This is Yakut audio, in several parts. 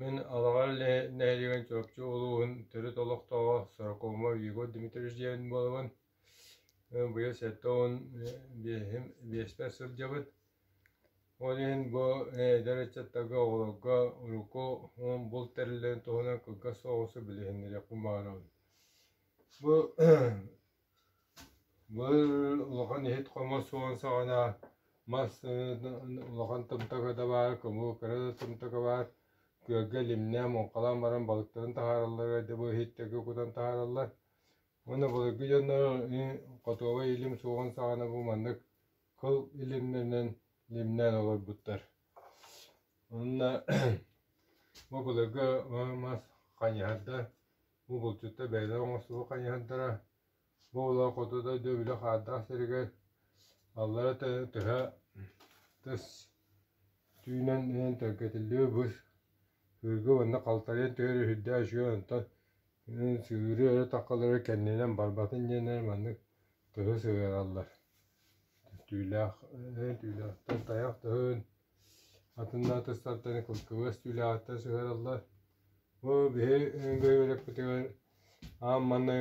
Мин Алаҕар нэһилиэгин Чурапчы улууһун төрүт олохтооҕо сорокуома Егор Дмитриевич диэбит буолабын. Быйыл сэттэ уон биэһим биэспэр сылдьабыт. Ол иһин бу эдэр ыччаттарга, оҕолорго урукку булт тэриллэрин туһунан кылгас соҕурусу билиһиннэриэхпин баҕарабын. Бу Быыр улахан иһит-хомус суон саҕана мас улахан тымтака да баар, кумул кыра да тымтака баар, күөлгэ лимнээн, муҥхалаан баран балыктарын таһаараллар, айдабы иһиттэргэ кутан таһаараллар. Уонна былыргы дьоннор хотуобай илим суоҕун саҕана бу маннык кыл илимнэринэн лимнээн олорбуттар. Уонна бу былыргы мас хайыһар да Бу булчуттар бэйэлэрэ оҥостубут хайыһардара бу олох хоту дойду били хаардаах сиригэр аллара төһө тыс түүнэн иһэн төлкөтүллүбүт бус күөлгэ уонна халтарыйан түһэрэ үрдээх үчүгэй онтон сыыры өрө таххалары кэннинэн барбатын диэннэр маннык тыһы сыһыараллар түүлээх тыйах тыһын Атыннаатастартан кылгылас түүлээҕиттэн сыһыараллар. Бу биһи өҥгө үөрэппитигэр аан манна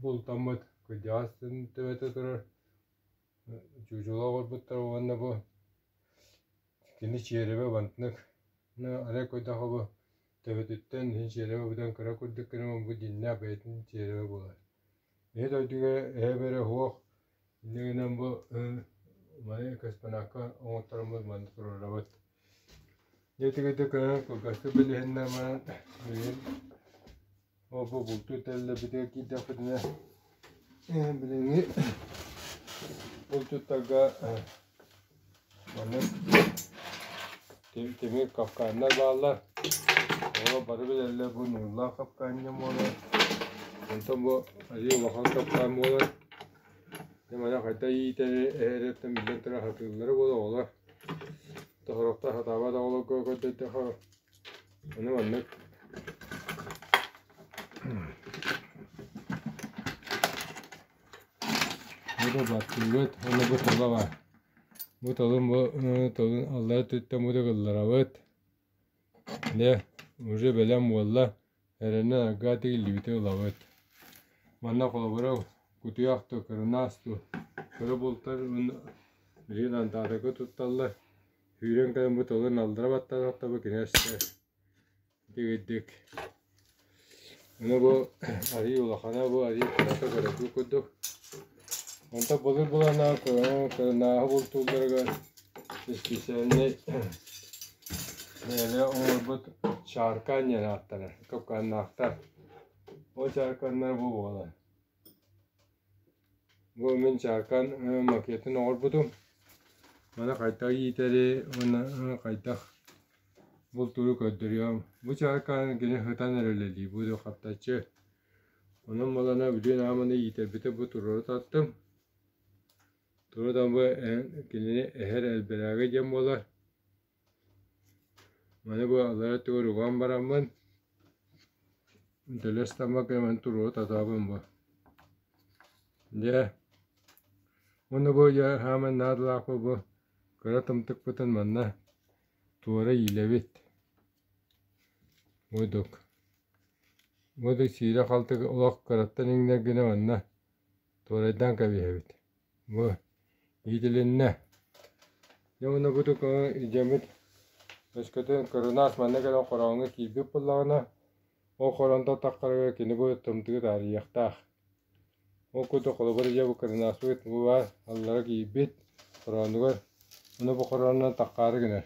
бултаммыт кырдьаҕас төбөтө турар чуучула оҥорбуттар уонна бу кини чиэрэбэ бантнык арай көрдөхө бу төбөтүттэн иһин чиэрэбэ бүтэн кыра курдук гынан бу дьиннээх бэйэтин чиэрэбэ буолар Ийэ дойдуга эһэ-бэрэ суох инньэ гынан бу маны космонавка оҥоттороммут манна туруорабыт дьэ итигирдик кылгастык билиһиннэр баран билигин ол-бу бултуу тэриллэрбитигэр киирдэхпитинэ билиҥҥи булчуттарга Маннык тим тимир капкааннар бааллар. Оо, бары билэллэр бу нууллаах капкаанньа буолар. Онтон бу айыы улахан капкаан буолар. Дьэ манна хайда иитэри эһэриттэн биллэн турар сатыыллара буолар оҕолор. Тоһороктоох сатаабат оҕолорго көрдөтөхө. Аны маннык Бу да баттыыбыт уонна бу тылы бар. Бу тылым бу тылын алла өттүттэн бу так ылларабыт. Дьэ, уже бэлэм буолла. Эрэнэ арга тигиллибити ылабыт. Манна холобура кутуйах тыл, кырынаас тыл, кыры бултар уонна билигин антаатыкы тутталлар. Сүүрэн кэлэн бу тылын аллара баттататтаба кинээстэр. Дэгиддик. Аны бу арыы улахана бу арыы кырата-кыратын курдук. Онто былыр быланаах кырынааһы бултуулларыгар испециальнай бэйэлэр оҥорбут чааркаан диэн ааттанар. Кокааннаахтар. Ол чааркааннар бу буолар. Бу мин чааркаан макетын оҥорбутум. Маны хайдах иитэри уонна хайдах бултууру көрдөрүөм. Бу чааркааны кини сытан эрэ үлэлиир, бу да хаптаччы. Онон буолана билигин аҕам аны иитэрбитэ бу туруору тартым. Туруору да бу кинини эһэр элбэрээгэ диэн буолар. Маны бу алар өттүгэр уган бараммын, дэлэс тамма кэмэн туруо татаабын бу. Дьэ, уну бу дьэ хааман наадалаахпы бу кыра тымтыкпытын манна туора иилэбит. Мудук. Мудук сиирэ-халты олох кыраттан иҥнэр гына манна туорайдаан кэбиһэбит. Во, иитилиннэ. Дьэ уонна бу тукаҕа илдьэммит өскөтүн кырынаас манна кэлэн хороҥҥо киирбит буоллаҕына, ол хоронто таххарыгар кини бу тымтыгы таарыйыахтаах. Ол курдук холобур ийэ бу кырынааспыт бу баар аллара киирбит хороонугар ону бу хоронунан таххаары гынар.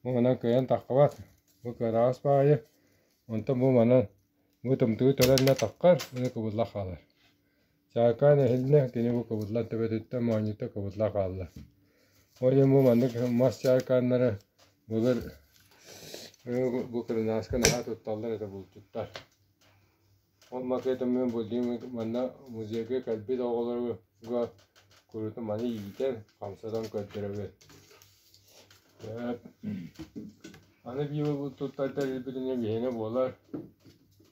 Бу манан кыайан таххабат, бу кыараҕас баайы, онтон бу манан бу тымтыгы төлөннө таххар, ону кыбылла хаалар. Саакаан эһилинэ, кини бу кыбыдлан төбөтүттэн моонньута кыбыдла хаалла. Ол иһин бу маннык мас саакааннары былыр бу кырынааска наһаа тутталлар этэ булчуттар. Ол макета мин булдим манна музейга кэлбит оҕолорго курууту маны иитэр, хамсатан көрдөрөбүт. Аны биир бу туттардар билбитинэ биһиэнэ буолар.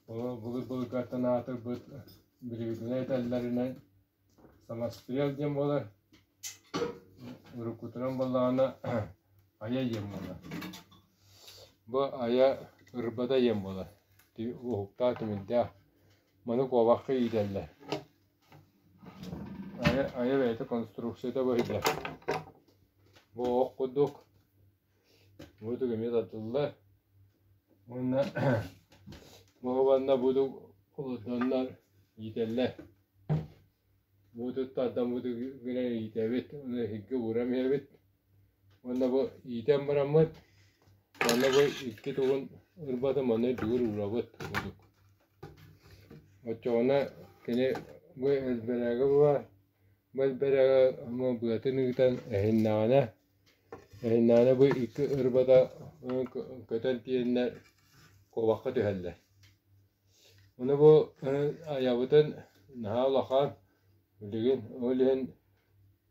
Былыр былыргаттан аатырбыт Билигитинэ этэллэринэн, самострел диэн буолар, уруккутунан буоллаҕына айа диэн буолар. Бу айа ырбата диэн буолар. Уһуктаах тимирдээх. Маны куобахха иитэллэр. Айа, айа бэйэтэ конструкцията бу иһиллэр. Бу ох курдук Буутук эмиэ тардыллар уонна моһобанна буутук олордоннор иитэллэр. Буутук тардаммытыгар гынан иитэбит, ону эһиггэ ууран биэрэбит. Уонна бу иитэн бараммыт, уонна бу икки тугун ырбатым, ону үрдүгэр уурабыт буутук. Оччоҕуна кини бу элбэрээгэ баар, бу элбэрээгэ ама быатын ыытан эһиннэҕинэ Наана бу икки ырбата көтөн тиийэннэр куобахха түһэллэр. Ону бу айабытын наһаа улахан, билигин ол иһин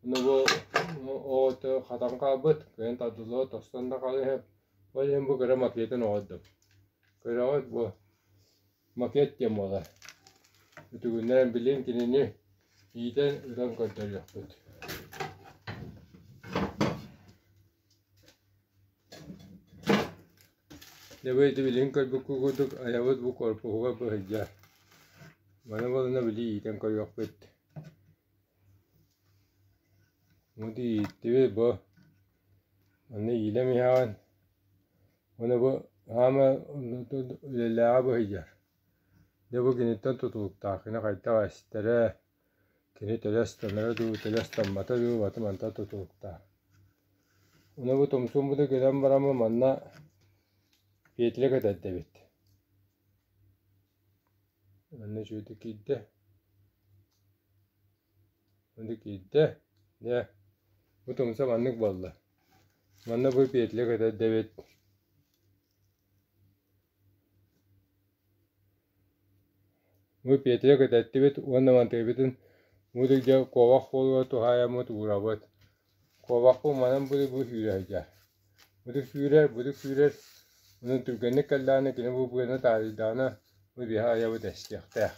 ону бу оҕото хатан хаалбыт, кыайан тардыллыбат тостон да хаалыһыа. Ол иһин бу кыра макетын оҕордум. Көрөҕүт бу макет диэн буолар. Үтүгүннээн билин кинини иитэн ытан көрдөрүөхпүт. Нэбиэти билигин көрбүккү курдук айабыт бу корпуһугар быһыйдьар. Маны балына били иитэн көрүөхпүт. Муду ииттибит бу. Аны иилэ миһаҕын. Ону бу хаама үлэлээҕэ быһыйар. Дьэ бу киниттэн тутулуктаах. Кини хайдах эстэрэ, кини төлө ыстанара дуу, төлө ыстаммата дуу баты мантан тутулуктаах. Ону бу Тумсуумбуту көрөн бараммы манна Петля кэтэрдэбит. Манна үчүгөйдүк киирдэ. Ити киирдэ, дьэ, бу тумса маннык буолла, манна бу петля көтөрдө эбит бу петля көтөттүбүт уонна мантыйбытын бу куобах буолугар туһаайаммыт уурабыт. Куобахпын манан були бу сүүрэ сылдьар. Бутук сүүрэр, бутук сүүрэр, онон түргэнник кэллэҕинэ кини бу быаны таарыйдаҕына бу биһэ айабыт эстиэхтээх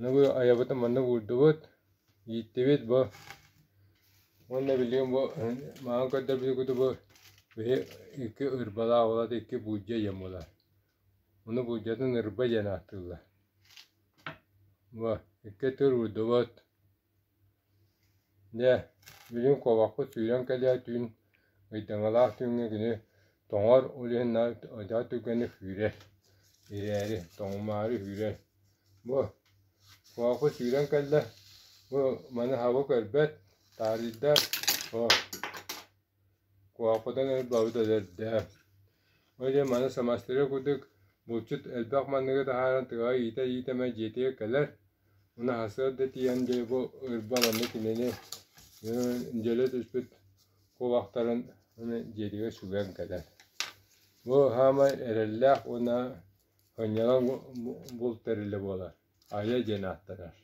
Нугу айабытын маннык уурдубут, ииттибит бу уонна билигин бу маҕан көрдөрбүт кутубу били икки ырбалаах уолат икки буулдьа диэн буолар. Ону буулдьатын ырба диэн ааттыыллар. Бу икки тыл уурдубут Дьэ, билигин куобахпыт сүүрэн кэлиэ түүн, ыйдаҥалаах түүҥҥэ кини тоҥор, ол иһин наар айдаа түргэнник сүүрэр, ирээри, тоҥумаары сүүрэр. Бу куобахпыт сүүрэн кэллэ, бу маны хабы көрбөт, таарыйда, о Куоппутаҥ өйбөөбүт өлөрдө. Ол иһин маны самастыыга курдук булчут элбэх манныгы таһааран тыаҕа иитэ-иитэ эмэ дьиэтигэр кэлэр, унаһасыар да тиийэн дьэ бу ырба манна кинини дьөлө түспүт кулактарын дьиэтигэр сүгэн кэлэр. Бу саамай эрэллээх уонна сынньалаҥ булт тэрилэ буолар. Айа диэн ааттанар.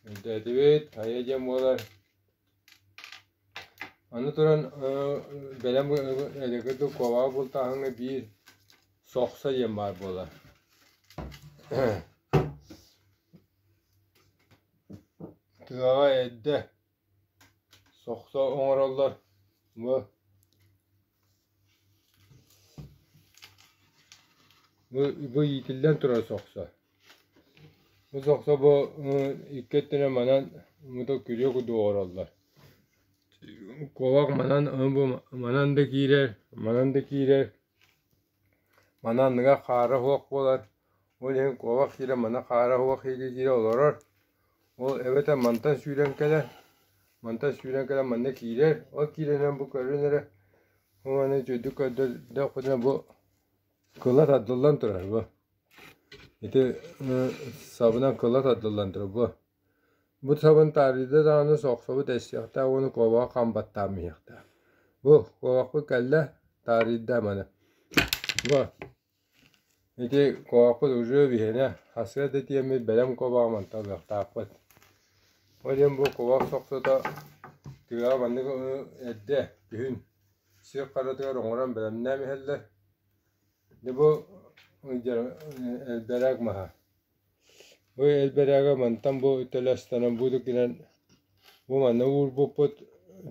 Өйдөөтүбүт, Айа диэн буолар Аны туран бэлэм эдэрки да куобаҕы бултааһыҥҥа биир сохсо диэн баар буолар тыаҕа эрдэ сохсо оҥороллор бу Выитиллэн турара сохсо. Бу сохсо бу икки өттүнэн манан мутук күрүө курдук олороллор. Куобах манан манан да киирэр, манан да киирэр Маны анныгар хаара суох буолар, ол иһин куобах сиирэ маны хаара суох иирии диирэ олорор. Ол эбэтэр мантан сүүрэн кэлэр, мантан сүүрэн кэлэн манна киирэр, ол киирэринэн бу көрүн эрэ бу маны үтүөтүк көрдөхпүтүнэ бу кыла тардыллан турар бу. Ити сабынан кыла тардыллан турар бу. Бу сабын таарыйда даҕаны соохсобут эссиэхтээх уонна куобаҕы хам баттаам иһиэхтээх. Бу, куобахпыт кэллэ, таарыйда маны. Бу, ити куобахпыт уже виһэнэ, хасыа да тиэммит бэлэм куобаҕа мантан ылыахтаахпыт. Ол иһин бу куобах сохсото тыаҕа маннык ону эрдэ, күһүн сир харатыгар оҥорон бэлэмнээн иһэллэр. Ити бу элбэрэг маһа. Бу элбэрээгэ мантан бу төлө ыстанан будут гынан бу манна уурбуппут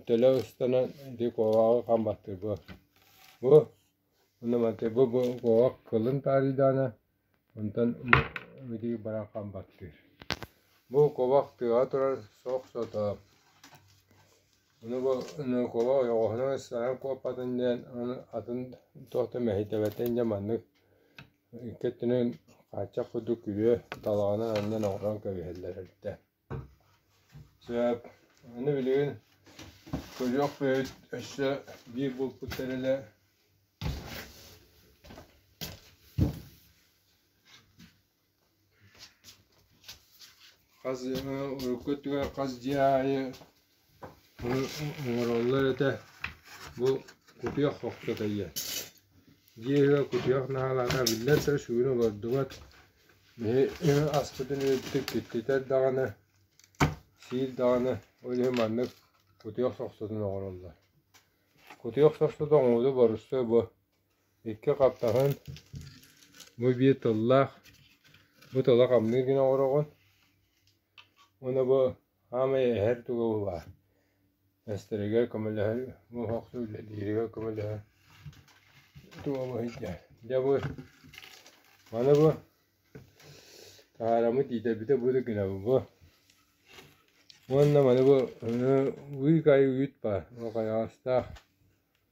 төлө ыстанан ити куобаҕы хам баттыырбыт. Бу онно манты бу бу куобах кылын таарыйдаҕына онтон ити баран хам баттыыр. Бу куобах тыаҕа турар соох-сотору. Ону бу ону куобах ойоҕоһунан ыстаһан куоппатын диэн аны атын туох да мэһийтэбэтин дьэ маннык Икки өттүнэн хааччах курдук күрүө талаҕынан анньан оҥорон кэбиһэллэр эрдэ. Сөп. Аны билигин кодьуох бэйэбит өссө биир булпут тэрилэ Хас урукку өттүгэр хас дьиэ аайы оҥороллор этэ, бу кутуйах охсото ийэ. Дьиэ иһигэр кутуйах наһаалаата, биллэн турар, сүгүн олордубат. Биһи аспытын үрдүктүк киртитэр даҕаны, сиир даҕаны, ол иһин маннык кутуйах сохсотун оҥороллор. Кутуйах сохсото оҥорууну боруссуой бу Икки хаптаһын бу биир тыллаах, бу тылы хамныы гына олороҕун. Уонна бу саамай эһэр туга баар эстэригэр көмөлөһөр, бу охсуу үлэлииригэр көмөлөһөр туга бу сылдьар. Дьэ бу маны бу таараммыт иитэбитэ бу да гынабыт бу. Уонна маны бу ыы кай үүт баар, ол хайаҕастаах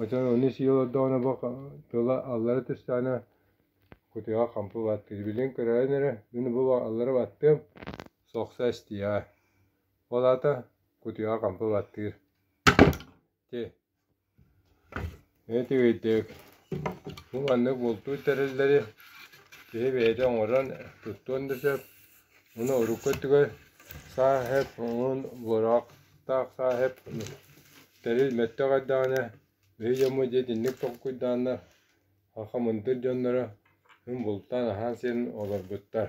Оттон ону сии олордоҕуна бу тыла аллара түстэҕинэ кутуйаҕа хампы баттыыр. Билигин көрөөрүн эрэ мин бу аллара баттыам, сохсо эстиэҕэ. Ол аата кутуйаҕа хампы баттыыр. Ити эмиэ үчүгэйдик. Бу маннык бултуу тэриллэри киһи бэйэтэ оҥорон, туттуон да сөп, Аны урукку өттүгэр сааһыап уҥун буораахтаах сааһыап тэрил мөлтөх эрдэҕинэ бэһи дьоммут дьиэтинник толкуйдааннар хахамындыр дьонноро күн бултаан аһаан сиэн олорбуттар